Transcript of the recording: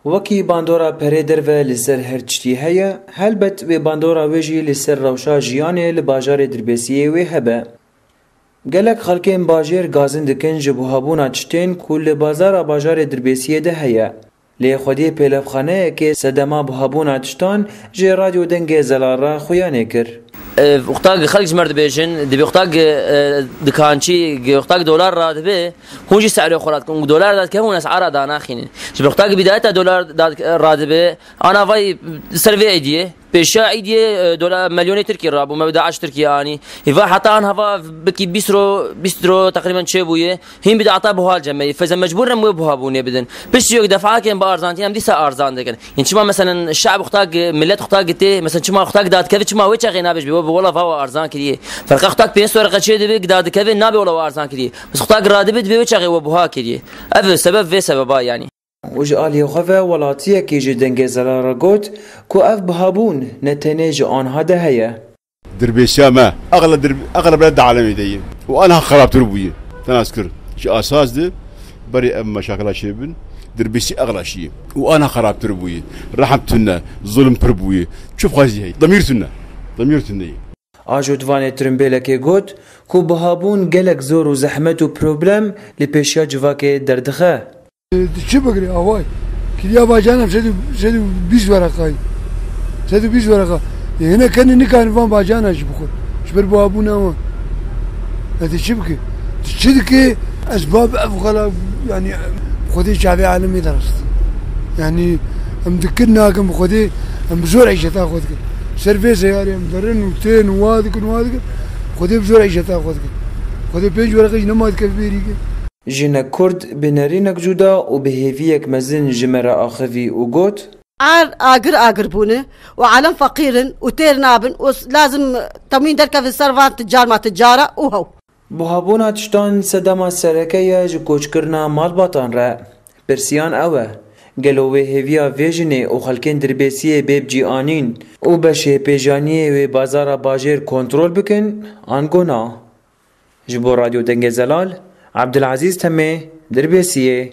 Wekî bandora perê derve li ser her tiştî heye, helbet wê bandora wê jî li ser rewşa jiyanê li bajarê Dirbêsiyê wê hebe. Gelek xelkên bajêr gazin dikin ji buhabûna tiştên ku li bazara bajarê Dirbêsiyê de heye. Lê xwedî pêlevxaneyekê sedema buhabûna tiştan ji Radyo Dengê Zelal re xuya nêkir. Ev qutak xelk ji me re dibêjin, divê qutak dikançî, qutak dolar re dibe, Hûn jî serê xwe radikin û dolar dadikevin û esara danaxînin. Ji ber qutakî bidayeta dolar radibe, ana vay ser vê êdiyê, pêşiya êdiyê dolar milyonê tirkî rabû, me bi DAIŞ Tirkiyeyê anî. Hêva heta an hava bikî bîst ro, bîst ro teqrîben çêbûye. Hîn bi data buha cemeyê. Fêza mecbûr in em wê buha bûnê bidin. Piştî yok defakên bi arzantiyan em dîsa arzan dikin. Hîn çima meselen şe'b qutak, milet qutak gitê, meselen çima qutak dadikevê çima wê çexê nabêjbê, wê bi wela va we arzan kiriyê. Ferqa qutak pênc sor reqe çêdibê, dadikevê nabê wela we arzan kiriyê. Bi xuda eger radibê dibê wê çaxê we buha kirî. Ev e sebeb vê sebeba yanî. Û ji aliyê xwe ve welatiyekî ji Dengê Zelal re got ku ev buhabûn ne tenê ji anha de heye. Dirbêsiya me eqla bile di alemê de ye û anha xerabtir bûye. Tenazkir ji asas di berê ev meşakila çêbin. Dirbêsî eqla şî ye û anha xerabtir bûye. Rehm tune, zulm pir bûye. Çi bixwazî heye? Demîr tune. Demîr tune ye. A ji Dvanê tirimbêlekê got ku bihabûn gelek zor û zehmet û problem li pêşiya civakê derdixe. Tu çi bigirî away? Kiriya bacaran em sed û sed û bîst wereqa ye. Sed û bîst wereqa. Yê hinek kenê nikarin van bacaran jî bixwin ji ber bihabûna wan. Ez dê çi bikim? Tu çi dikê? Ez bab ev xala yanî bi xwedê çavê alimê de rastî. Yanî em dikin nakin bi xwedê em bi zor îşeta xwe dikin. Ser vê seyarê em. Derin û tên û wa dikin û wa dikin. Xwedê bi jora îşeta xwe dikin. Xwedê pênc wereqe jî nema dikeve bêrî ke. Jinek Kurd bi nerînek cuda û bi hêviyek mezin ji me re axivî û got. Erd agir agir bûne û elm feqîr in û têr nabin û lazim temwîn derkevin ser van ti carma ti cara û hew. Buhabûna tiştan sedema sereke ye ji koçkirina malbatan re. Pirsiyan ew e, gelo wê hêviya vê jinê û xelkên dirbêsiyê bê bicianîn û beşê pêjaniyê wê bazara bajêr kontrol bikin ango na? Ji bo Radyo Dengê Zelal, Abdulazîz Temê, Dirbêsiyê.